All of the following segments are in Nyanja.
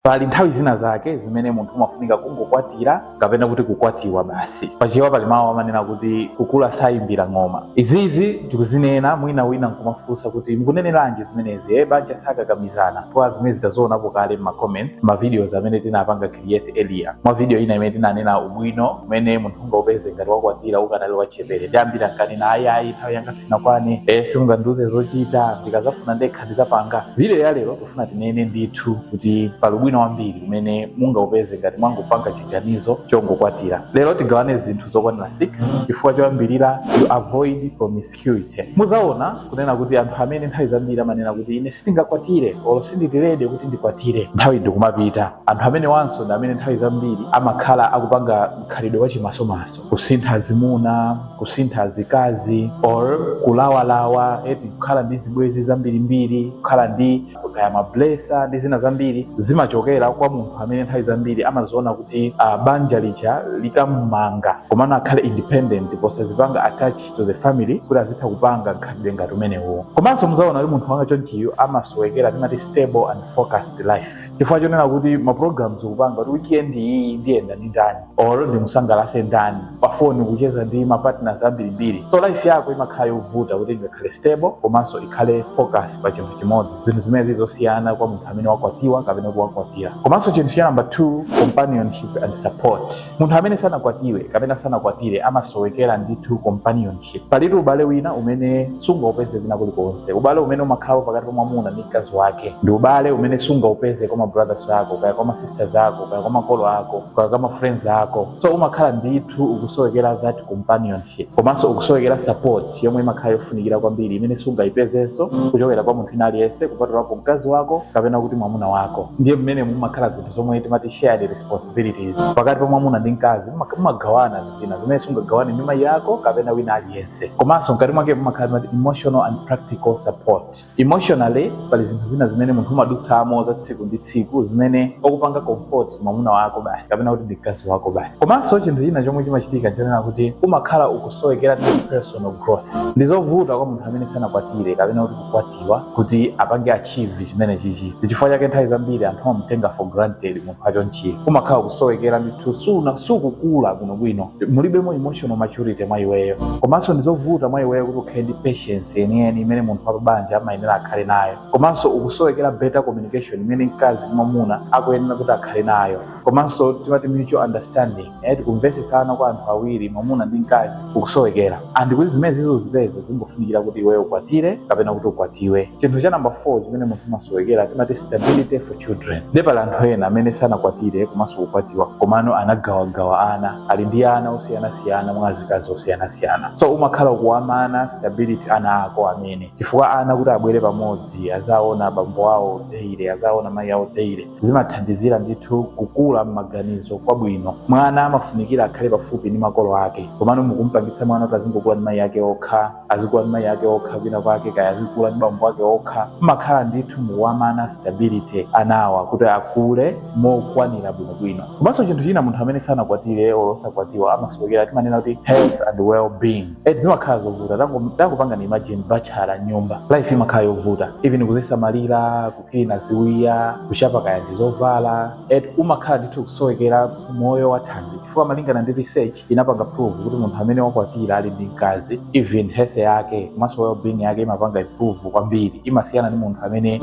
pali nthawi zina zake zimene munthu umafunika kungokwatira kapena kuti kukwatiwa basi pachewa pali mawu amanena kuti kukula sayimbira ng'oma izizi tikuzinena mwina wina nkumafunsa kuti mukuneneranji zimenezi e banja sakakamizana kwa zimene tidazionapo kale m'macomments mavideos amene tinapanga create earlier mwa video ina imene tinanena ubwino umene munthu ungaupeze ngati wakwatira ukanali wachepere ndi ambiri ankanena ayi ayi nthawi yanga sinakwane simungandiuze zochita ndikazafuna ndekha ndizapanga video ya lero Tikufuna tinene ndithu kuti pali ubwino wambiri umene mungaupeze ngati mwangopanga chiganizo chongokwatira. Lero tigawane zinthu zokwanira 6 chifukwa choyambirira you avoid promiscuity. Muzaona kunena kuti anthu amene nthawi zambiri amanena kuti ine sindingakwatire or sindili ready kuti ndikwatire, nthawi ndikumapita. Anthu amenewanso ndi amene nthawi zambiri amakhala akupanga mkhalidwe wachimasomaso. kusintha zimuna kusintha zikazi or kulawalawa eti kukhala ndi zibwezi zambirimbiri kukhala ndi kaya mablesa ndi zina zambiri zimachokera kwa munthu amene nthawi zambiri amaziona kuti uh, banja lija likamumanga komano akhale independent posazipanga attach to the family kuti azitha kupanga nkhalidwe ngati umenewo komanso muzaona kuti munthu wangati chonchiyo amasowekera timati stable and focused life chifukwa chonena kuti maprograms ukupanga kuti weekend iyi ndiyenda ndi ndani or ndimusangalase ndani pafoni kucheza ndi mapartners ambirimbiri so life yako imakhala yovuta kuti ingakhale stable komanso ikhale focus pa chinthu chimodzi zinthu zimene zili zosiyana kwa munthu amene wakwatiwa kapena kuti wakwatira komanso chinthu cha number two companionship and support munthu amene sanakwatiwe kapena sanakwatire amasowekera ndithu companion ship. Palitu ubale wina umene sungaupeze kwina kulikonse. Ubale umene umakhalapo pakati pa mwamuna ndi mkazi wake ndi ubale umene sungaupeze kwa mabrothers ako kaya kwa masisters ako kaya kwa makolo ako kaya kwa mafriends ako. So umakhala ndithu ukusowekera that companionship komanso ukusowekera support yomwe imakhala yofunikira kwambiri imene sungaipezenso kuchokera kwa munthu wina aliyense kupatulapo mkazi wako kapena kuti mwamuna wako. Ndiye mmenemo mumakhala zinthu zomwe timati shared responsibilities pakati pa mwamuna ndi mkazi mumagawana zina zimene sungagawane ndi mayi ako kapena wina aliyense komanso mkati mwake mumakhala timati emotional and practical support emotionally pali zinthu zina zimene munthu umadutsamo za tsiku ndi tsiku zimene okupanga comfort mwamuna wako basi kapena kuti ndi mkazi wako basi komanso chinthu china chomwe chimachitika nchonena kuti umakhala ukusowekera ndi personal growth ndi zovuta kwa munthu amene sanakwatire kapena kuti kukwatiwa kuti apange achieve chimene chichi chifukwa chake nthawi zambiri anthu amamutenga for granted munthu wachonchiyo umakhala ukusowekera ndithu sukukula bwinobwino mulibemo emotional maturity mwa iweyo komanso ndizovuta mwa iweyo kuti ukhale ndi patience yeniyeni imene munthu wa pabanja amayenera akhale nayo komanso ukusowekera better communication imene mkazi ndi mwamuna akuyenera kuti akhale nayo komanso timati mutual understanding eti kumvetsetsana kwa anthu awiri mwamuna ndi mkazi ukusowekera and kuti zimene zizo uzipeze zimafunikira kuti iweyo ukwatire kapena kuti ukwatiwe chinthu cha namba 4 chimene munthu umasowekera timati stability for children nde pali anthu ena amene sanakwatire komanso kukwatiwa komano anagawagawa ana ali ndi ana osiyanasiyana mwa azikazi osiyanasiyana so umakhala ukuwamana stability ana ako amene chifukwa ana kuti abwere pamodzi azaona abambo awo daily azaona mayi awo daily zimathandizira ndithu kukula m'maganizo kwabwino. Mwana amafunikira akhale pafupi ndi makolo ake. Komano mukumpangitsa mwana kuti azingokula ndi mayi ake okha, azikula ndi mayi ake okha kwina kwake, kaya azikula ndi bambo ake okha, mmakhala ndithu mukuwamana stability anawa kuti akule mokwanira bwinobwino. Komanso chinthu china munthu amene sanakwatire olo osakwatiwa amasowekera timanena kuti health and well being eti zimakhala zovuta. Tangopangani imagine batchala m'nyumba life imakhala yovuta even kuzisamalira, kuklina ziwiya kuchapa kaya ndi zovala eti umakhala ndithu kusowekera moyo wa thanzi chifukwa malingana ndi research inapanga prove kuti munthu amene wakwatira ali ndi mkazi even health yake komanso wellbeing yake imapanga improve kwambiri imasiyana ndi munthu amene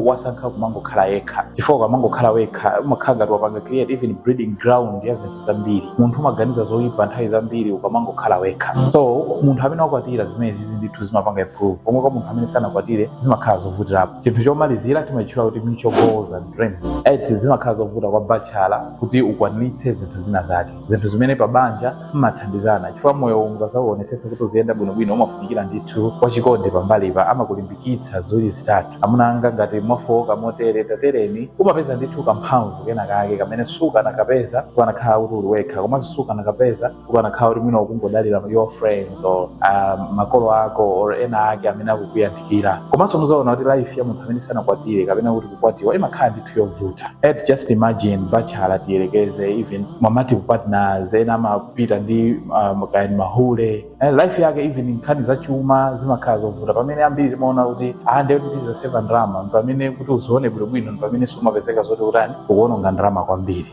wasankha kumangokhala yekha chifukwa ukamangokhala wekha umakhala ngati wapanga create even breeding ground ya zinthu zambiri munthu umaganiza zoyipa nthawi zambiri ukamangokhala wekha so munthu amene wakwatira zimene zizi ndithu zimapanga improve pomwe kwa munthu amene sanakwatire zimakhala zovutirapo Chinthu chomalizira timachitchula kuti mutual goals and dreams. Eti, Zimakhala zovuta kwa batchala kuti ukwaniritse zinthu zina zake. Zinthu zimene pa banja mmathandizana chifukwa moyowu ukadzauonetsetsa kuti uziyenda bwinobwino umafunikira ndithu wachikondi pambalipa amakulimbikitsa ziwiri zitatu. Amuna anga ngati mwafooka motere tatereni umapeza ndithu kamphamvu kena kake kamene sukanakapeza ukanakhala kuti uli wekha komanso sukanakapeza ukanakhala kuti mwina ukungodalira your friends or um, makolo ako or ena ake amene akukuyandikira komanso muzaona kuti life ya munthu amene sanakwatire kapena kuti kukwatiwa imakhala ndithu yovuta eti just imagine bachala tiyerekeze even ma multiple partners ena amapita ndi um, kaya ndi mahule eh, life yake even nkhani za chuma zimakhala zovuta pamene ambiri timaona kuti ndiye kuti tizaseva ndalama pamene kuti uzione bwinobwino ndi pamene umapezeka zoti utani ukuononga ndalama kwambiri